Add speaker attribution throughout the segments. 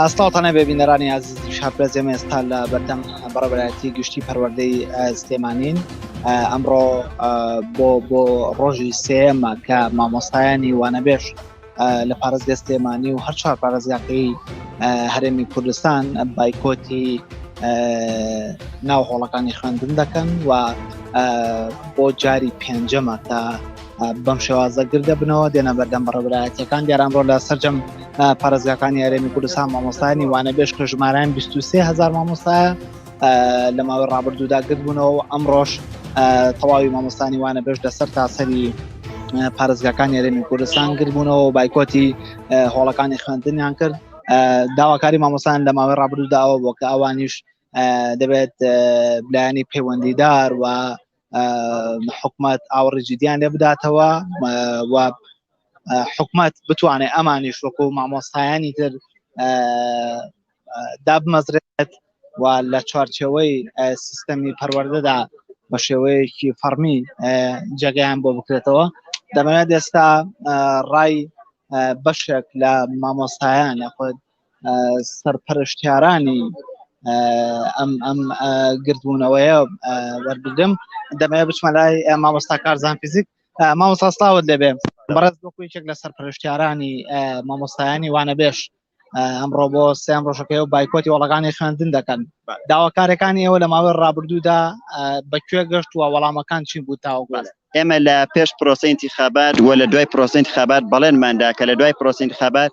Speaker 1: ئاستاڵتانە بێ بینەرانی ئازیزی شارپرەس ئێمە ئێستا لە بەردەم بەڕێبەرایەتی گشتی پەروەردەی سلێمانین ئەمڕۆ بۆ بۆ ڕۆژی سێمە کە مامۆستایانی وانەبێش لە پارێزگە سلێمانی و هەر چوار پارێزگاکەی هەرێمی کوردستان بایکۆتی ناو هۆڵەکانی خوێندن دەکەن و بۆ جاری پێنجەمە تا بەم شێوازە گر دەبنەوە دێنە بەردەم بەڕێبرایەتەکان دیاران ڕۆ لە سەررجەم پارێزگاکانی یارێمی کوردستان مامۆستانی وانە بێش کە ژماران 23 هزار مامۆستایە لە ماوەی ڕابردوودا گرتبوونەوە و ئەم ڕۆژ تەواوی مامۆستانی وانە بێش لەسەر تاسەری پارێزگاکان یارێمی کوردستان گربوونەوە و بایکۆتی هۆڵەکانی خوێندنیان کرد داواکاری مامۆسان لە ماوەی ڕابردووداوە بۆ کە ئەوانیش دەبێت بلایانی پەیوەندیدار و حکومت ئاوڕی جدیان لێ بداتەوە و حکومت بتوانێت ئەمانیش وەکو مامۆستایانی تر دابمەزرێت و لە چوارچەوەی سیستەمی پەروەردەدا بە شێوەیەکی فەرمی جێگەیان بۆ بکرێتەوە دەمەوێت ئێستا ڕای بەشێک لە مامۆستایان یاخود سەرپەرشتیارانی ئەم ئەم گردبوونەوەیە وەربگرم دەمەیە بچمە لای مامۆستا کارزان فیزیک مامۆساستاوت لەبێ بەڕێز بۆ کوچێک لە سەرپەرشتیارانی مامۆستایانی وانە بێش ئەمڕۆ بۆ سێم ڕۆژەکەی و بایکۆتی وڵەکانی خوێندن دەکەن داواکارەکانی ئێوە لە ماوەی ڕابردوودا بەکوێ گەشت وە وەڵامەکان چی بوو تاوگوڵ ئێمە لە پێش
Speaker 2: پرۆسەی انتخابات وە لە دوای پرۆسەی انتخابات بەڵێنماندا کە لە دوای پرۆسەی انتخابات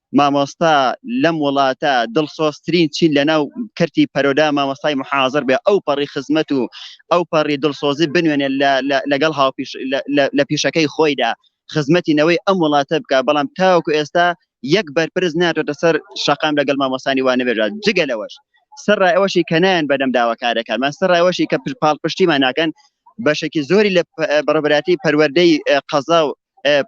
Speaker 2: مامۆستا لەم وڵاتە دڵسۆزترین چین لەناو کەرتی پەرۆدا مامۆستای محازر بێ ئەو پەڕی خزمەت و ئەو پەڕی دڵسۆزی بنوێنێ لەگەڵ هاوپیش لە پیشەکەی خۆیدا خزمەتی نەوەی ئەم وڵاتە بکە بەڵام تاوەکو ئێستا یەک بەرپرس ناتۆتە سەر شەقام لەگەڵ مامۆستانی وانە بێژات جگە لەوەش سەرڕای ئەوەشی کە نایەن بەدەم داواکارەکانمان سەرڕای ئەوەشی کە پاڵپشتیمان ناکەن بەشێکی زۆری لە بەڕبراتی پەروەردەی قەزا و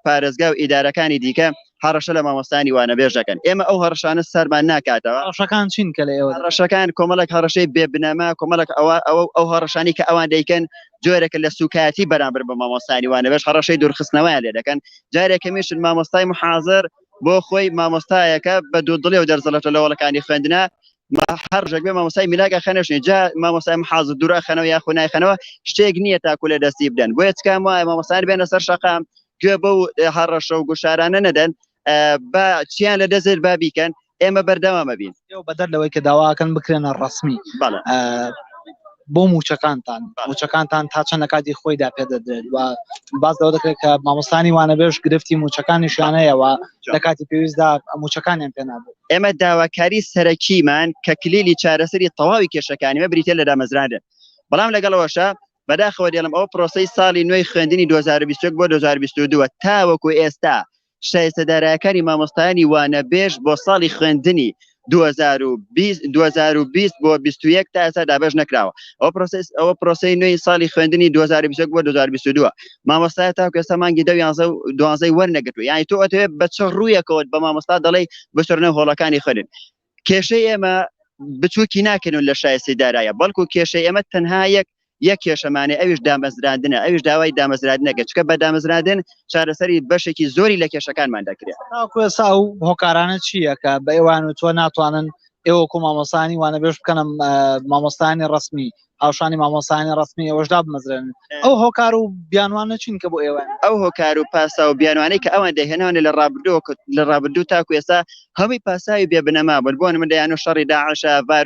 Speaker 2: پارێزگا و ئیدارەکانی دیکە هەڕەشە لە مامۆستایانی وانەبێژ دەکەن ئێمە ئەو هەڕەشانە سەرمان ناکاتەوە هەڕەشەکان چین کە لە ئێوە
Speaker 1: هەڕەشەکان کۆمەڵێک
Speaker 2: هەڕەشەی بێ بنەما کۆمەڵێک ئەوە ئەوە ئەو هەڕەشانی کە ئەوان دەیکەن جۆرێکە لە سوکایەتی بەرامبەر بە مامۆستایانی وانەبێژ هەڕەشەی دوورخستنەوەیان لێ دەکەن جارێک هەمیشن مامۆستای محازر بۆ خۆی مامۆستایەکە بە دوو دڵێ و دەرزەڵەتە لەوەڵەکانی خوێندنە ما هەر ڕژێک بێ مامۆسای میلاک ئەخەنەشنی جا مامۆسای محازە دوور ئەخەنەوە یا خو نایخەنەوە شتێک نییە تاکو لە دەستی بدەن بۆیە تکام وایە مامۆسان بێنە سەر شەقام گوێ بەو هەڕەشە و گوشارانە نەدەن با چیان لە دەزێت با بیکەن ئێمە بەردەوامە بین بەدەر لەوەی کە
Speaker 1: داواکەن بکرێنە ڕسمی بۆ مووچەکانتان مووچەکانتان تا چەند لە کاتی خۆیدا پێدەدرێت و باز لەوە دەکرێت کە مامۆستانی وانەبێژ گرفتی مووچەکانیشیانەیەوە لە کاتی پێویستدا مووچەکانیان پێنابێت ئێمە داواکاری
Speaker 2: سەرەکیمان کە کلیلی چارەسەری تەواوی کێشەکانیمە بریتە لە دامەزراندن بەڵام لەگەڵەوەشە بەداخەوە دێڵم ئەو پرۆسی ساڵی نوێی خوێندنی 2021 بۆ 2022 تاوەکو ئێستا شایستە دارایەکانی مامۆستایانی وانە بێژ بۆ ساڵی خوێندنی 2020 بۆ 21 تا ئێستا دابش نەکراوە ئەو پرۆسس ئەوە پرۆسی نوێی ساڵی خوێندنی 2020 بۆ 2022 مامۆستا تا کەسە مانگی دە یانزە و دوانزەی وەرنەگرتو یانی تۆ ئەتەوێت بە چ ڕوویەکەوت بە مامۆستا دەڵێ بچڕنە هۆڵەکانی خوێن کێشەی ئێمە بچووکی ناکەنون لە شایستی دارایە بەڵکو کێشەی ئێمە تەنها یەک یەک کێشەمانێ ئەویش دامەزراندنە ئەویش داوای دامەزرادنەکە چکە بە دامەزرادن چارەسەری بەشێکی زۆری لە کێشەکانمان دەکرێت کوێسا و
Speaker 1: هۆکارانە چییە کە بە ئێوان و تۆ ناتوانن ئێوە کۆ مامۆسانی وانە بێش بکەنم مامۆستانی ڕسمی هاوشانی مامۆستایانی ڕەسمی ئێوەش دابمەزرێنن ئەو هۆکار و بیانوانە چین کە بۆ ئێوەن ئەو هۆکار و پاسا
Speaker 2: و بیانوانەی کە ئەوان دەهێنانە لە ڕابردووە کە- لە ڕابردوو تاکو ئێستا هەمووی پاساوی بێ بنەما بوون بۆ نموونە دەیانو شەڕی داعشە ڤار